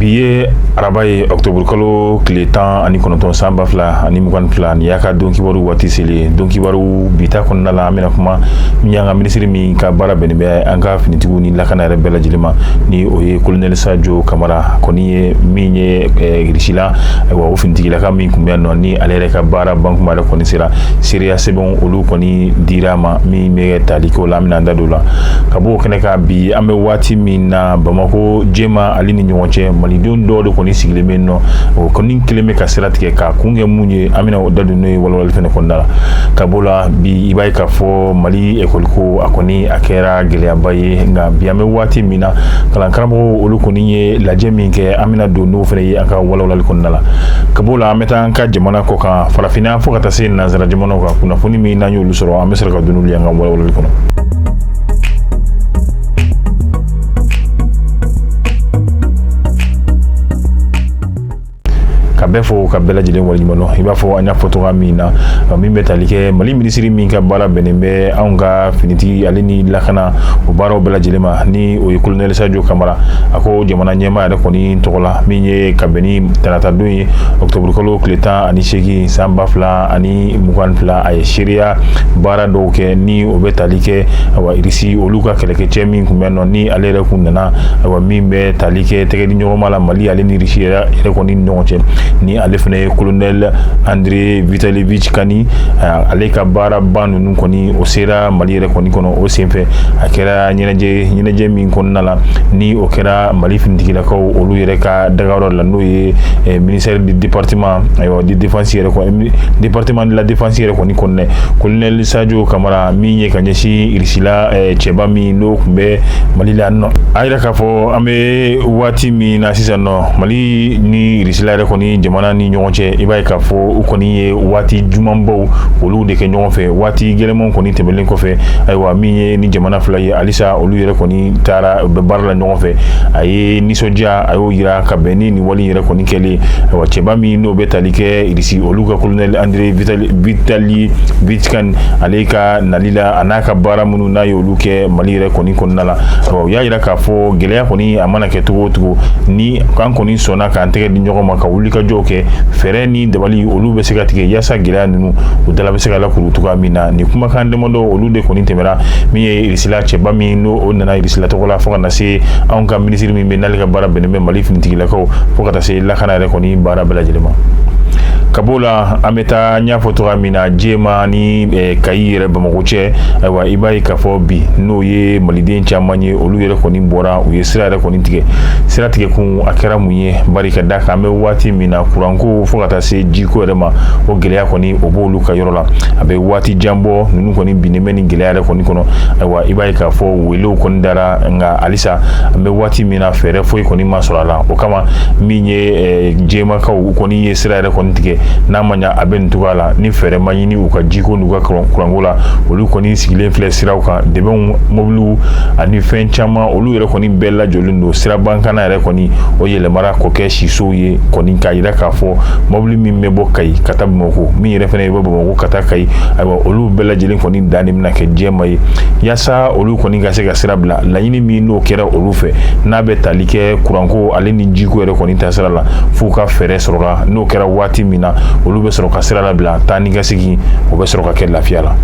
Bi ye araba ye ɔkutɔburukalo tile tan ani kɔnɔntɔn san ba fila ani mugan fila nin y'an ka don kibaru waati selen ye don kibaru bi ta kɔnɔna la an bɛna kuma min ye an ka minisiri min ka baara bɛnnen bɛ an ka finitigiw ni lakana yɛrɛ bɛɛ lajɛlen ma ni o ye kolonɛli sajo kamara kɔni ye min ye irisila ayiwa o finitigilaka min tun bɛ nɔ ni ale yɛrɛ ka baara ban yɛrɛ kɔni sera seereya sɛbɛnw olu kɔni dira a ma min bɛ tali k'o la an bɛna da don o la ka b'o kɛnɛ kan bi an bɛ waati min na bamako jɛma ale ni ɲɔgɔn cɛ malidenw dɔw de kɔni sigilen bɛ nɔ o kɔni kɛlen bɛ ka sira tigɛ k'a kun kɛ mun ye an bɛna o da don n'o ye walawalali fɛnɛ kɔnɔna la ka b'o la bi i b'a ye k'a fɔ mali ekɔliko a kɔni a kɛra gɛlɛyaba ye nka bi an bɛ waati min na kalan karamɔgɔw olu kɔni ye lajɛ min kɛ an bɛna don n'o fɛnɛ ye an ka walawalali kɔnɔna la ka b'o la an bɛ taa an ka jamana kɔkan farafinna fo ka taa se nansara jamanaw ka kunnafoni min n'an y'olu sɔrɔ an bɛ sɔrɔ ka don n'olu y'an ka walawalali kɔnɔ k'a bɛɛ fo k'a bɛɛ lajɛlen waleɲumandɔn i b'a fɔ an y'a fɔ cogoya min na min bɛ tali kɛ mali minisiri min ka baara bɛnnen bɛ anw ka finitigi ale ni lakana o baaraw bɛɛ lajɛlen ma ni o ye kolonɛli sajo kamara a ko jamana ɲɛmaa yɛrɛ kɔni tɔgɔ la min ye ka bɛn ni taratadon ye ɔkutɔburukalo tile tan ani seegin san ba fila ani mugan fila a ye seereya baara dɔw kɛ ni o bɛ tali kɛ awa irisi olu ka kɛlɛkɛcɛ min tun bɛ nɔ ni ale yɛrɛ kun nana awa min bɛ tali kɛ tɛgɛdiɲɔgɔnma la mali ale ni irisi yɛrɛ kɔni ni ɲɔgɔn cɛ ni ale fana ye kolonɛl andre vitalivic kani ale ka baaraba ninnu kɔni o sera mali yɛrɛ kɔni kɔnɔ o senfɛ a kɛra ɲɛnajɛ min kɔnɔna la ni o kɛra mali finitigilakaw olu yɛrɛ ka dagayɔrɔ la n'o ye eh, ministère du département ayiwa di défense yɛrɛ kɔni département de la défense yɛrɛ kɔni kɔnɔna colonel sadio kamara min ye ka ɲɛsin irisila eh, cɛba min n'o tun bɛ mali la nɔ a y'a jira k'a fɔ an bɛ waati min na sisan nɔ mali ni irisila yɛrɛ kɔni jamana ni ɲɔgɔn cɛ i b'a ye k'a fɔ u kɔni ye waati jugumanbaw olu de kɛ ɲɔgɔn fɛ waati gɛlɛnmanw kɔni tɛmɛlen kɔfɛ ayiwa min ye ni jamana fila ye halisa olu yɛrɛ kɔni taara u bɛ baara la ɲɔgɔn fɛ a ye nisɔndiya a y'o jira ka bɛn ni nin wale yɛrɛ kɔni kɛlen wa cɛba min n'o bɛ tali kɛ irisi olu ka kolonɛli andre vitalivic kani ale ka nali la an'a ka baara minnu n'a ye olu kɛ mali yɛrɛ kɔni kɔnɔna la u y'a jira k'a fɔ gɛlɛya kɔni a mana kɛ cogo o cogo ni an kɔni sɔnna k'an tɛgɛ di ɲɔgɔn ma ka wulikajɔw kɛ fɛɛrɛ ni dabali olu bɛ se ka tigɛ yaasa gɛlɛya ninnu u dala bɛ se ka lakuru cogoya min na nin kumakan damadɔ olu de kɔni tɛmɛna min ye sila cɛba min n'o o nana irisila tɔgɔ la fo ka na se anw ka minisiri min bɛ n'ale ka baara bɛnnen bɛ mali finitigilako fo ka taa se lakana yɛrɛ kɔni baara bɛɛ lajɛlen ma ka b'o la an bɛ taa n y'a fɔ cogoya min na jɛma ni eh, kayi yɛrɛ bamakɔ cɛ ayiwa i b'a ye k'a fɔ bi n'o ye maliden caman ye olu yɛrɛ kɔni bɔra u ye sira yɛrɛ kɔni tigɛ sira tigɛkun a kɛra mun ye bari ka d'a kan an bɛ waati min na kuranko fo ka taa se jiko yɛrɛ ma o gɛlɛya kɔni o b'olu ka yɔrɔ la a bɛ waati jan bɔ ninnu kɔni binnen bɛ nin gɛlɛya yɛrɛ kɔni kɔnɔ ayiwa i b'a ye k'a fɔ welew kɔni dara nka halisa an bɛ waati min na fɛɛrɛ foyi kɔni ma sɔrɔ a la o kama min ye jɛmakaw u kɔni ye sira yɛrɛ kɔni tigɛ n'a ma ɲa a bɛ nin cogoya la ni fɛɛrɛ ma ɲini u ka jiko n'u ka kuranko la olu kɔni sigilen filɛ siraw kan dɛmɛw mobiliw ani fɛn caman olu yɛrɛ kɔni bɛɛ lajɔlen don sirabankana yɛrɛ kɔni o yɛlɛmara k'o kɛ sisow ye kɔni k'a jira k'a fɔ mobili min bɛ bɔ kayi ka taa bamakɔ min yɛrɛ fɛnɛ e bɛ bamakɔ ka taa kayi ayiwa olu bɛɛ lajɛlen kɔni dan bɛna kɛ jɛma ye yaasa olu kɔni ka se ka sira bila laɲini min n'o kɛra olu fɛ n'a bɛ tali kɛ kuranko ale ni jiko yɛrɛ kɔni ta sira la f'u ka fɛɛrɛ sɔrɔ ka n'o kɛra waati min na olu bɛ sɔrɔ ka sira labila taa ni ka segin o bɛ sɔrɔ ka kɛ lafiya la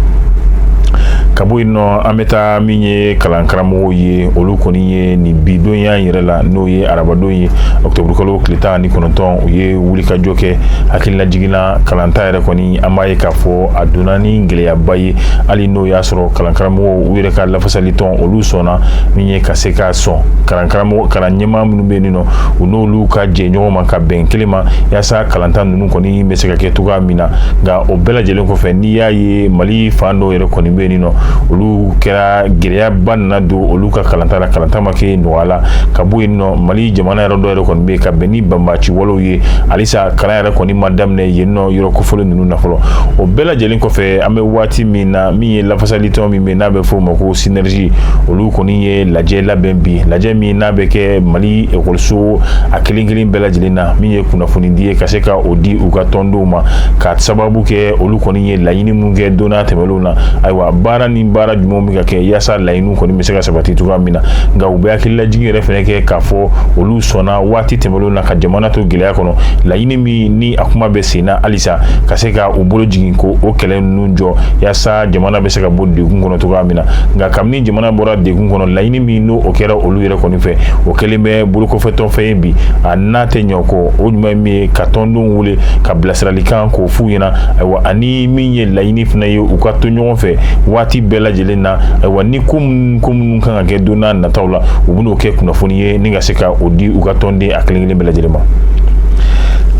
ka bɔ yen nɔ an bɛ taa min ye kalankaramɔgɔw ye olu kɔni ye nin bi don yan yɛrɛ la n'o ye arabadon ye ɔkutɔburukalo tile tan ni kɔnɔntɔn u ye wulikajɔ kɛ hakililajigin na kalanta yɛrɛ kɔni an b'a ye k'a fɔ a donna ni gɛlɛyaba ye hali n'o y'a sɔrɔ kalankaramɔgɔw yɛrɛ ka lafasalitɔn olu sɔnna min ye ka se k'a sɔn kalankaramɔgɔ kalanɲɛmaa minnu bɛ yen nɔ u n'olu ka jɛ ɲɔgɔn ma ka bɛn kelen ma yaasa kalanta ninnu kɔni bɛ se ka kɛ cogoya min na nka o bɛɛ lajɛlen kɔfɛ n'i y'a ye mali fan dɔw yɛrɛ kɔni bɛ yen nɔ olu kɛra gɛlɛyaba nana don olu ka kalanta la kalanta ma kɛ nɔgɔya la ka bɔ yen nɔ mali jamana yɔrɔ dɔ yɛrɛ kɔni bɛ ka bɛn ni banbaci walew ye halisa kalan yɛrɛ kɔni ma daminɛ yen nɔ yɔrɔ kofɔlen ninnu na fɔlɔ o bɛɛ lajɛlen kɔfɛ an bɛ waati min na min ye lafasalitɔn min bɛ n'a bɛ fɔ o ma ko synergie olu kɔni ye lajɛ labɛn bi lajɛ min n'a bɛ kɛ mali ekɔliso a kelen kelen bɛɛ lajɛlen na min ye kunnafonidi ye ka se ka o di u ka tɔndenw ma ka sababu kɛ olu kɔni ye laɲini min kɛ donna tɛmɛnlenw na ayiwa baara ni baara jumɛnw bɛ ka kɛ yaasa laɲini kɔni bɛ se ka sabati cogoya min na nka u bɛ hakililajigin yɛrɛ fana kɛ k'a fɔ olu sɔnna waati tɛmɛnlenw na ka jamana to gɛlɛya kɔnɔ laɲini min ni a kuma bɛ sen na halisa ka se ka u bolo jigin k'o kɛlɛ ninnu jɔ yaasa jamana bɛ se ka bɔ degun kɔnɔ cogoya min na nka kabini jamana bɔra degun kɔnɔ laɲini min n'o o kɛra olu yɛrɛ kɔni fɛ o kɛlen bɛ bolokɔfɛtɔnfɛn ye bi a n'a tɛ ɲɔ kɔ o ɲuman min ye ka tɔndenw wele ka bilasiralikan k'o f'u ɲɛna ayiwa ani min ye laɲini fana ye u ka to ɲɔgɔn fɛ waati bɛɛ lajɛlen na ayiwa ni ko minnu ko minnu kan ka kɛ don n'a nataw la u bɛn'o kɛ kunnafoni ye ni ka se ka o di u ka tɔnden a kelen kelen bɛɛ lajɛlen ma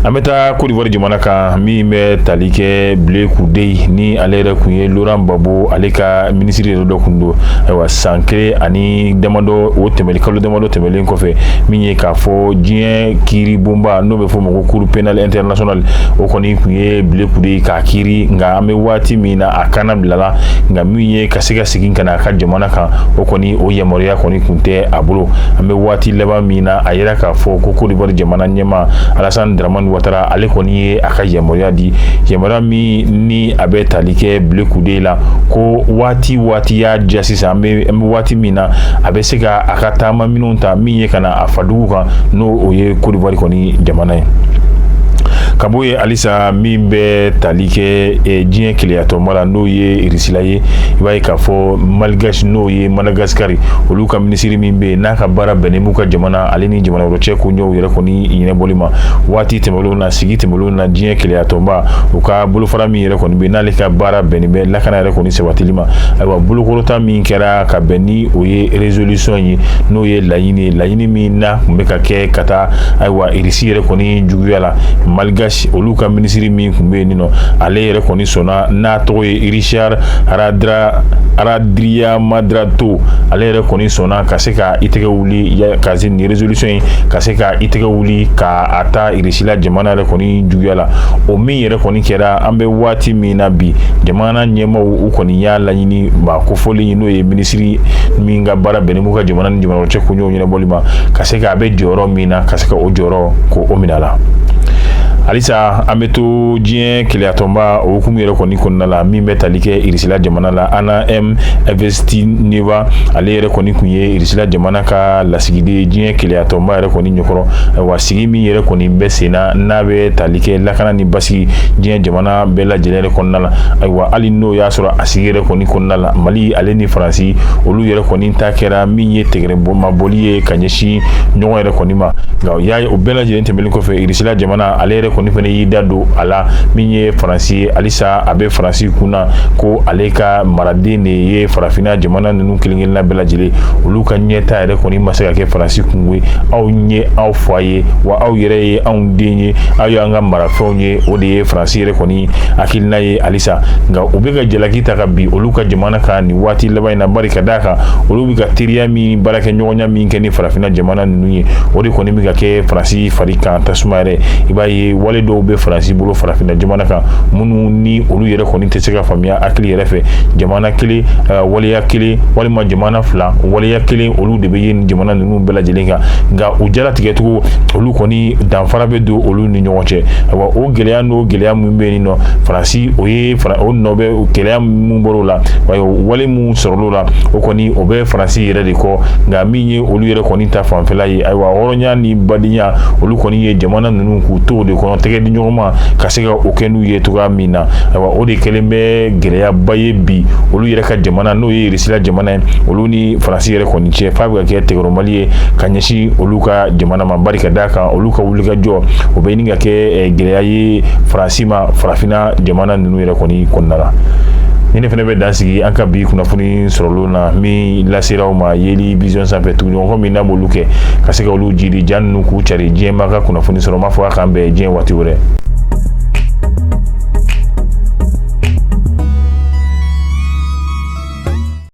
an bɛ taa côte d'ivoire jamana kan min bɛ tali kɛ blé goudé ni ale yɛrɛ kun ye laurent gbagbo ale ka minisiri yɛrɛ dɔ kun don ayiwa san kelen ani damadɔ o tɛmɛli kalo damadɔ tɛmɛlen kɔfɛ min ye k'a fɔ diɲɛ kiiri bonba n'o bɛ fɔ o ma ko cour pénale internationale o kɔni kun ye blé goudé k'a kiiri nka an bɛ waati min na a kannabilala nka min ye ka se ka segin ka na a ka jamana kan o kɔni o yamaruya kɔni kun tɛ a bolo an bɛ waati laban min na a yɛrɛ k'a fɔ ko côte d'ivoire jamana ɲɛmaa alassane dramane ouattara ale kɔni ye a ka yamaruya di yamaruya min ni a bɛ tali kɛ blé goudé la ko waati waati y'a diya sisan an bɛ waati min na a bɛ se ka a ka taama minɛnw ta min ye ka na a fadugu kan n'o o ye côte d'ivoire kɔni jamana ye ka bɔ halisa min bɛ tali kɛ eh, diɲɛ kelenyatɔnba la n'o ye irisila ye i b'a ye k'a fɔ malgache n'o ye madagascar olu ka minisiri min bɛ yen n'a ka baara bɛnnen b'u ka jamana ale ni jamana wɛrɛ cɛ koɲɛw yɛrɛ kɔni ɲɛnabɔli ma waati tɛmɛnlenw na sigi tɛmɛnlenw na diɲɛ kelenyatɔnba u ka bolofara min yɛrɛ kɔni bɛ yen n'ale ka baara bɛnnen bɛ lakana yɛrɛ kɔni sabatili ma ayiwa bolokɔrɔta min kɛra ka bɛn ni o ye résolution ye n'o ye laɲini ye laɲini min na kun bɛ ka kɛ ka taa ayiwa irisi yɛrɛ kɔni la malgache olu ka minisiri min kun bɛ yen ni ale yɛrɛ kɔni sɔnna n'a tɔgɔ ye richard randriamandrato ale yɛrɛ kɔni sɔnna ka se ka i tɛgɛ wuli ka se nin résolution in ka se ka i tɛgɛ wuli ka a ta irisila jamana yɛrɛ kɔni juguya la o min yɛrɛ kɔni kɛra an bɛ waati min na bi jamana ɲɛmaaw u kɔni y'a laɲini maa kofɔlen n'o ye minisiri min ka baara bɛnnen b'u ka jamana ni jamana cɛ ko ɲɛnabɔli ma ka se ka a bɛ jɔyɔrɔ min na ka se ka o jɔyɔrɔ ko o minɛ a la halisa an bɛ to diɲɛ kelenyatɔnba o hukumu yɛrɛ kɔni kɔnɔna la min bɛ tali kɛ irisila jamana la anna m evstigneeva ale yɛrɛ kɔni kun ye irisila jamana ka lasigiden ye diɲɛ kelenyatɔnba yɛrɛ kɔni ɲɛkɔrɔ ayiwa sigi min yɛrɛ kɔni bɛ sen na n'a bɛ tali kɛ lakana ni basigi diɲɛ jamana bɛɛ lajɛlen yɛrɛ kɔnɔna la ayiwa hali n'o y'a sɔrɔ a sigi yɛrɛ kɔni kɔnɔna la mali ale ni faransi olu yɛrɛ kɔni n ta kɛra min ye tɛgɛrɛmabɔli ye ka ɲɛsin ɲɔgɔn yɛrɛ kɔni ma nka o y'a ye o bɛɛ lajɛlen tɛmɛnen kɔfɛ irisila jamana ale yɛrɛ kɔni fana y'i da don a la min ye faransi ye halisa a bɛ faransi kun na ko ale ka maraden de ye farafinna jamana ninnu kelenkelenna bɛɛ lajɛlen olu ka ɲɛtaa yɛrɛ kɔni ma se ka kɛ faransi kunko ye an ye aw fa ye wa aw yɛrɛ ye anw den ye aw y'an ka marafɛnw ye o de ye faransi yɛrɛ kɔni hakilina ye halisa nka u bɛ ka jalaki ta ka bin olu ka jamana kan nin waati laban in na Bɛ ka d'a kan olu bɛ ka teriya min baarakɛ ɲɔgɔnya min kɛ ni farafinna jamana ninnu ye o de kɔni bɛ ka kɛ faransi fari kan tasuma yɛrɛ i b'a ye wale dɔw bɛ faransi bolo farafinna jamana kan minnu ni olu yɛrɛ kɔni tɛ se ka faamuya hakili yɛrɛ fɛ jamana kelen eh, waleya kelen walima jamana fila waleya kelen olu de bɛ ye nin jamana ninnu bɛɛ lajɛlen kan nka u jala tigɛcogo olu kɔni danfara bɛ don olu ni ɲɔgɔn cɛ ayiwa o gɛlɛya n'o gɛlɛya min bɛ yen nɔ faransi o ye o nɔ bɛ gɛlɛya minnu bɔr'o la wa wale minnu sɔrɔl'o la o kɔni o bɛ faransi yɛrɛ de kɔ nka min ye olu yɛrɛ kɔni ta fanfɛla ye ayiwa hɔrɔnya ni badenya olu kɔni ye jamana ninnu k'u to o de kɔnɔ tɛgɛ di ɲɔgɔn ma ka se ka o kɛ n'u ye cogoya min na ayiwa o de kɛlen bɛ gɛlɛyaba ye bi olu yɛrɛ ka jamana n'o ye irisila jamana ye olu ni faransi yɛrɛ kɔni cɛ f'a bɛ ka kɛ tɛgɛrɛmali ye ka ɲɛsin olu ka jamana ma bari ka d'a kan olu ka wulikajɔ o bɛ ɲini ka kɛ eh, gɛlɛya ye faransi ma farafinna jamana ninnu yɛrɛ kɔni kɔnɔna la ni ne fana bɛ dan sigi an ka bi kunnafoni sɔrɔlen na min lasera aw ma yeli vision sanfɛ tuguɲɔgɔnkɔ min n'a b'olu kɛ ka se ka olu jiri ja ninnu k'u cari diɲɛmaa ka kunnafoni sɔrɔ n b'a fɔ a k'an bɛn diɲɛ waati wɛrɛ